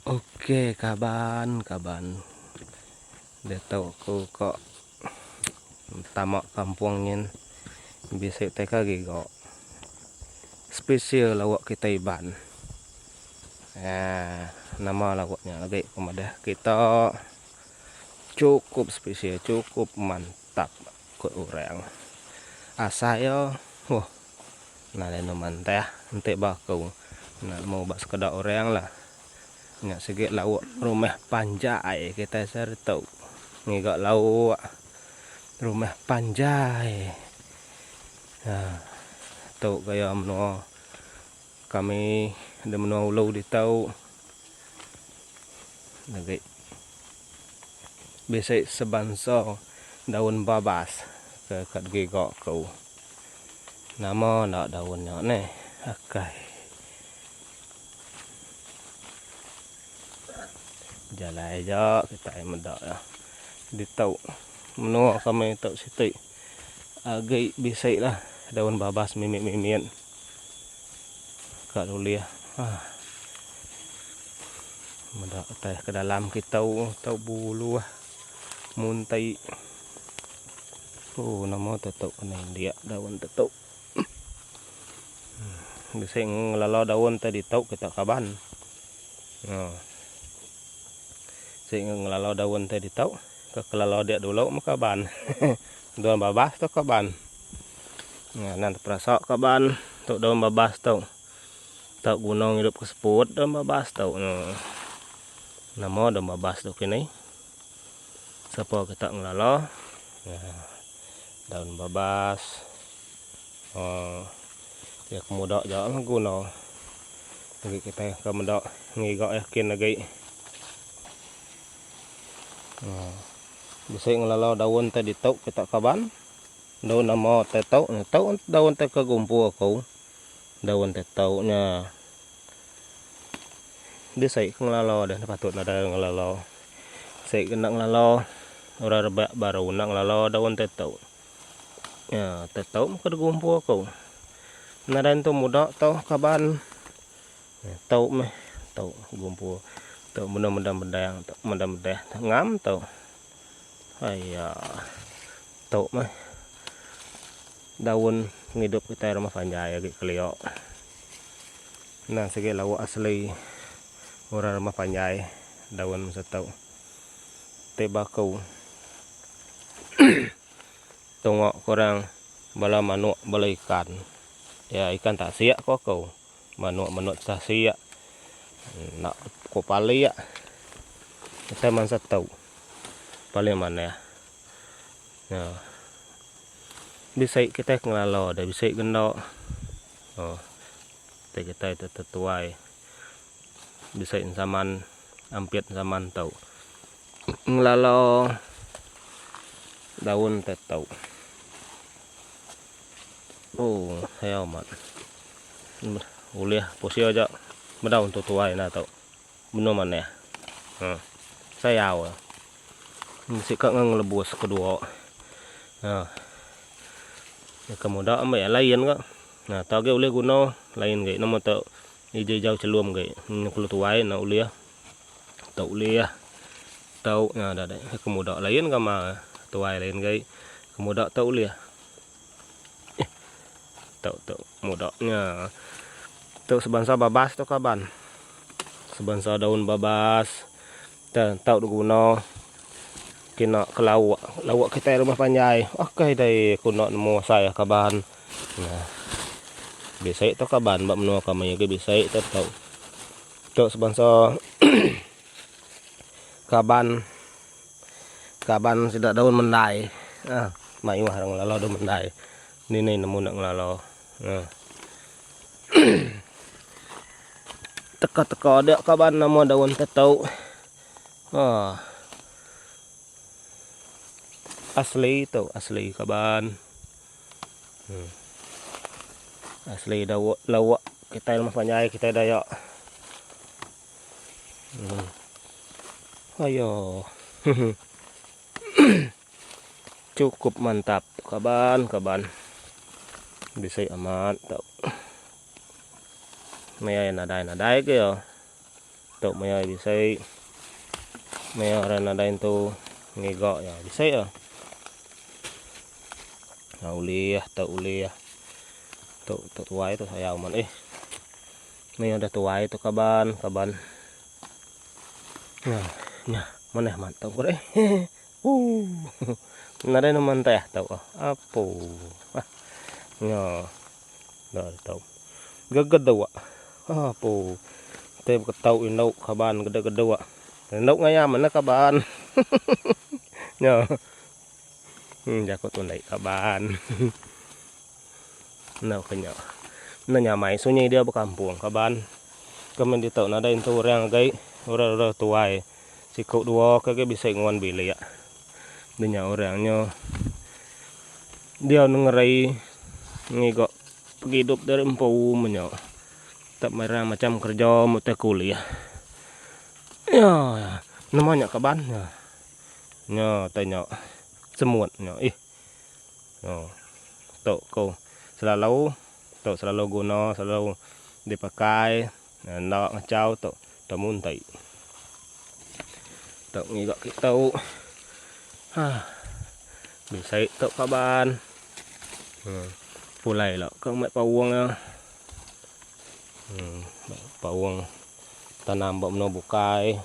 Ok kaban kaban ditu aku ka tama kampung nyin bisi teka giga spesial lauk kita iban aaa nama lauk nya agi ku madah kita chukup spesial chukup mantap ku orang asai yo. Nah lalu mantah enti ba aku nah mu ba sekeda orang lah nya sigi lauk rumah panjai kitai sehari tu ngiga lauk rumah panjai nah tu gaya menua kami di menua ulu ditu. Bisi sebansa daun babas ke ka digiga aku. Nama enda daun nya neh akai jalai ja kitai meda iya ditu menua kami tu siti. Agi bisi lah daun babas mimit-mimit ka lulih ah. Meda utai ke dalam kitou tau buluh munti. Oh nama tetu kena indik daun tetu. Bisi ngelala daun te ditu kita kaban. Ha. Si ngelala daun te ditu ke kelala dia dulu meh kaban. daun babas tu kaban. Nah, nan terasa kaban tu daun babas tu. Tak guna ngidup ke seput daun babas tu. Nah. Nama daun babas tu kini. Sapa kita ngelala. Nah. Daun babas. Haa. Ia kemuda ja lah guna. Agi kitai ke meda ngiga yakin agi. Haa. Bisi ngelala daun te ditu kita kaban. Daun nama te tu. Tu daun te ke gumpu aku. Daun te tu nya. Dia sai ke ngelala deh enda patut nadai orang ngelala. Sai ke enda ngelala orang rebak baru enda ngelala daun teto. Nya teto meh ke degumpu aku. Nadai entu muda tau kaban nya tau meh tau begumpu tau mendang-mendang bedang tau mendang-mendang ngam tau. Aya. Tu meh. Daun pengidup kitai rumah panjai agi kelio. Enda sigi lauk asli orang rumah panjai daun masa tu. Ti baku. Tungok ke orang bala manuk bala ikan. Iya ikan tasik ko aku. Manuk manuk sah sia enda ko palia utai mansa tau paling manah nya bisi kitai ke ngalo deh bisi ke enda oh ti kitai tu tetuai bisi zaman ampit zaman tau ngelalo daun te tau. Ooh ai amat. Ulih posi aja bedau entu tuai enda tu. Benung manah. Huh. Sayau. Bisi ka ngan ngelebus ke dua. Huh. Ke muda ambi ai lain ka. Nah tu agi ulih guna lain agi nama tu ija-ija chelum agi. Kelu tuai enda ulih. Tau ulih ah. Tau nya dah deh. Ke muda lain gamal eh. Tuai lain gai. Ke muda tau ulih. Eh. Tau tau muda nya. Tau sebansa babas tu kaban. Sebansa daun babas. Dan tau diguna. Kena ke lauk. Lauk kita rumah panjai. Okey dai kuna nemu asai ah kaban. Nah. Bisai tu kaban. Ba menua kami ke bisai tu tau. Tu sponsor kaban kaban sida daun mendai. Ha, mayuh orang ngelala daun mendai. Ni ni nemu nak ngelala. Ha. Teka-teka ada kaban nama daun tetu. Ha. Asli tu, asli kaban. Asli dawa lawa kitai lemas panjai kitai dayak. Ayo. Cukup mantap kaban kaban. Bisi amat tau. Meh nadai nadai ke yo. Tok maya ai bisai. Maya orang nadai entu ngiga nya bisai ah. Ha ulih tok ulih. Tok tok tuai tu sayang man eh. Ni ada tuai tu kaban, kaban. Nah, nya mana man tok kore. Uh. Nadai neman teh tok. Apo. Ah. Nya. Enda tau. Gegedua. Apo. Te beketau indu kaban gedegedua. Indu ngayam enda kaban. Nya. Hmm jaku tu ndai kaban. Enda ke nya. Enda nyamai sunyi dia bekampung kaban. Kemen ditu nadai entu orang agei, orang-orang tuai. Siku dua ke agei bisi ngan bilik. Denya orang nya diau nengeri ngiga pengidup dari empu menya. Tak merang macam kereja mu tai kulih. Ya, nama nya kaban nya. Nya tanya semut nya ih. Oh. Tu ko selalu tu selalu guna selalu dipakai. Enda ngachau tu temu enti. Tu ngiga kita. Ha. Bisa tu kaban. Hmm. Pulai lah ke mai paung ya. Hmm. Paung tanam ba meno bukai.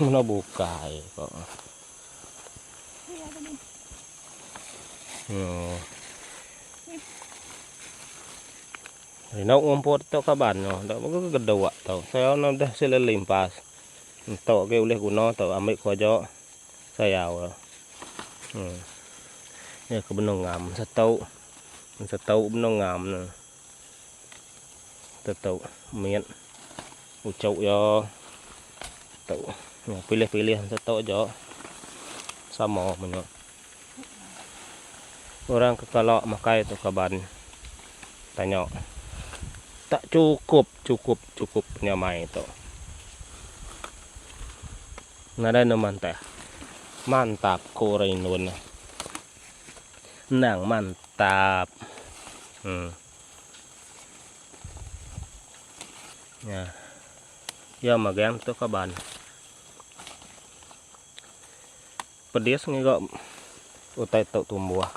meno bukai kok. Oh. Rindu ngumput tu ka banyu enda mega ke gedok tu. Sayau ne udah sila limpas. Entu agi ulih guna tu ambi ku aja sayau tu. Em. Nya ke benung ngam setu. Setu benung ngam ne. Tetu mit uchu iya tu. Nya pilih-pilih setu aja sama menya. Orang ke kala makai tu kaban tanya tak chukup chukup chukup penyamai tu. Nadai enda mantah. Mantap ko orang indon nya. Endang mantap. Em. Nya. Ya magang tu kaban. Pedis ngiga utai tu tumbuh.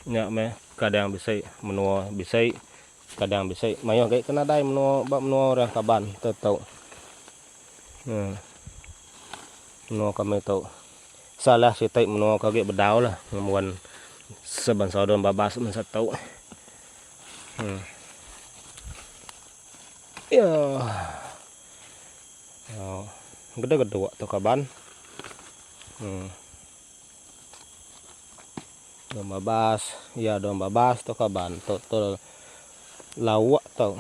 Nya meh kadang bisi menua bisi kadang bisi mayuh agi ke nadai menua ba menua orang kaban te tu. Em menua kami tu salah siti menua ke agi bedau lah ngembuan sebansa daun babas masa tu. Em. Iyoh. Gede gede tu kaban. Hmm. Dua babas, ya dua babas tu kaban. Tu tu lawak tu.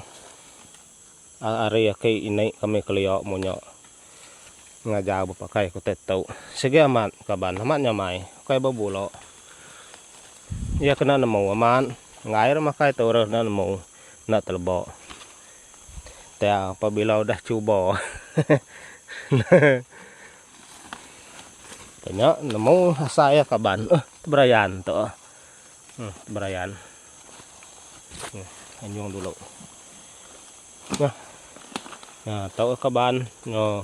Ari aki ini kami kelia munyo ngajar bepakai kota tu. Sigi amat kaban, amat nyamai. Kai bebulo. Ya kena nemu amat. Ngai ira makai tu ira kena nemu. Enda teleba. Tang pabila udah cuba. Nya nemu asai iya kaban. Uh teberayan tu. Hmm teberayan. Hmm anjung dulu. Nah. Nah tau kaban. Noh.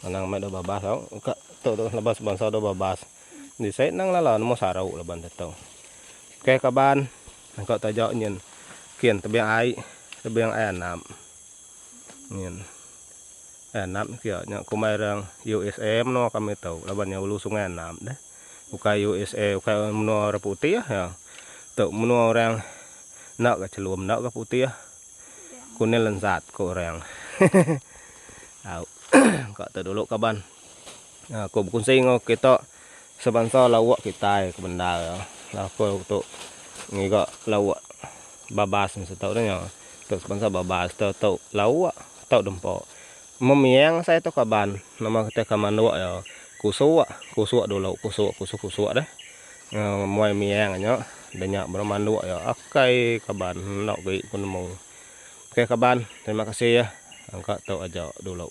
Anang meh dau babas tau ka tu tu laban sebansa dau babas. Di sai nang lala nemu saru laban te tu. Okey kaban engka taja nyin kin tebing ai tebing ai anap nyin ai anap kia nya kumbai rang usa menoa kami tu laban nya ulu sungai anap deh ukai usa ukai menoa orang putih ya tu menoa orang enda ga chelum enda ga putih. Kunil lensat ko orang. Au. Ka tu dulu kaban. Ha, ko bekunsi enggau kita sebansa lawak kitai ke bendar. Lah ko tu ngiga lawak babas mesti tau dah nya. Tu sebansa babas tu tau lawak, tau dempa. Memiang asai tu kaban. Nama kita ke manduk iya. Kusuk, kusuk dulu, kusuk, kusuk, kusuk deh. Muai miang nyo denya bro manduk yo okay kaban enda ogi ku nemu okay kaban terima kasih ya engka tu aja dulu.